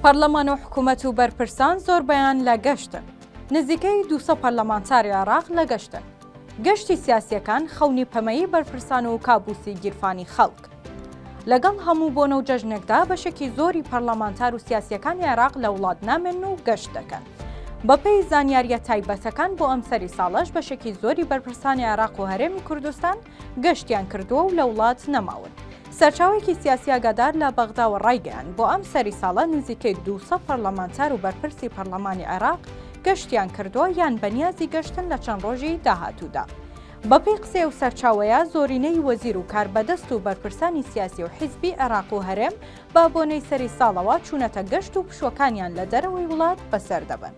پەرلەمان و حکومەت و بەرپرسان زۆربەیان لە گەشتن. نزیکەی دوو سەد پەرلەمانتاری عێراق لە گەشتن. گەشتی سیاسییەکان خەونی پەمەیی بەرپرسان و کابوسی گیرفانی خەڵک. لەگەڵ هەموو بۆنە و جەژنێکدا بەشێکی زۆری پەرلەمانتار و سیاسییەکانی عێراق لە وڵات نامێنن و گەشت دەکەن. بەپێی زانیارییە تایبەتەکان بۆ ئەمسەری ساڵەش بەشێکی زۆری بەرپرسانی عێراق و هەرێمی کوردستان، گەشتیان کردووە و لە وڵات نەماون. سەرچاوەیەکی سیاسی ئاگادار لە بەغداوە ڕایگەیاند، بۆ ئەم سەری ساڵە نزیکەی دوو سەد پەرلەمانتار و بەرپرسی پەرلەمانی عێراق گەشتیان کردووە یان بەنیازی گەشتن لە چەند ڕۆژی داهاتوودا. بەپێی قسەی ئەو سەرچاوەیە، زۆرینەی وەزیر و کاربەدەست و بەرپرسانی سیاسی و حیزبی عێراق و هەرێم، بە بۆنەی سەری ساڵەوە چوونەتە گەشت و پشووەکانیان لە دەرەوەی وڵات بەسەر دەبەن.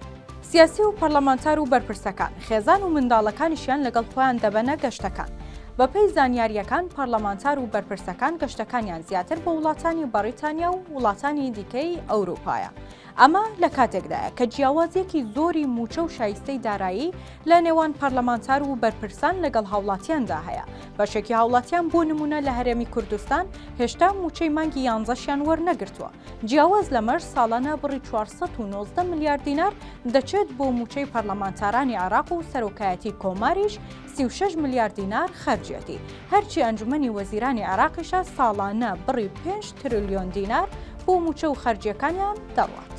سیاسی و پەرلەمانتار و بەرپرسەکان، خێزان و منداڵەکانیشیان لەگەڵ خۆیان دەبەنە گەشتەکان. بەپێی زانیارییەکان، پەرلەمانتار و بەرپرسەکان گەشتەکانیان زیاتر بۆ وڵاتانی بەڕیتانیا و وڵاتانی دیکەی ئەوروپایە، ئەمە لە کاتێکدایە کە جیاوازیەکی زۆری مووچە و شایستەی دارایی لە نێوان پەرلەمانتار و بەرپرسان لەگەڵ هاوڵاتیاندا هەیە بەشێکی هاوڵاتیان بۆ نمونە لە هەرێمی کوردستان هێشتا مووچەی مانگی یانزەشیان وەرنەگرتووە جیاواز لەمەش ساڵانە بڕی 490 ملیار دینار دەچێت بۆ مووچەی پەرلەمانتارانی عێراق و سەرۆکایەتی کۆماریش سی و شەش ملیار دینار خەرجیەتی، هەرچی ئەنجومەنی وەزیرانی عێراقیشە ساڵانە بڕی پێنج ترلیۆن دینار بۆ مووچە و خەرجییەکانیان دەڕوات.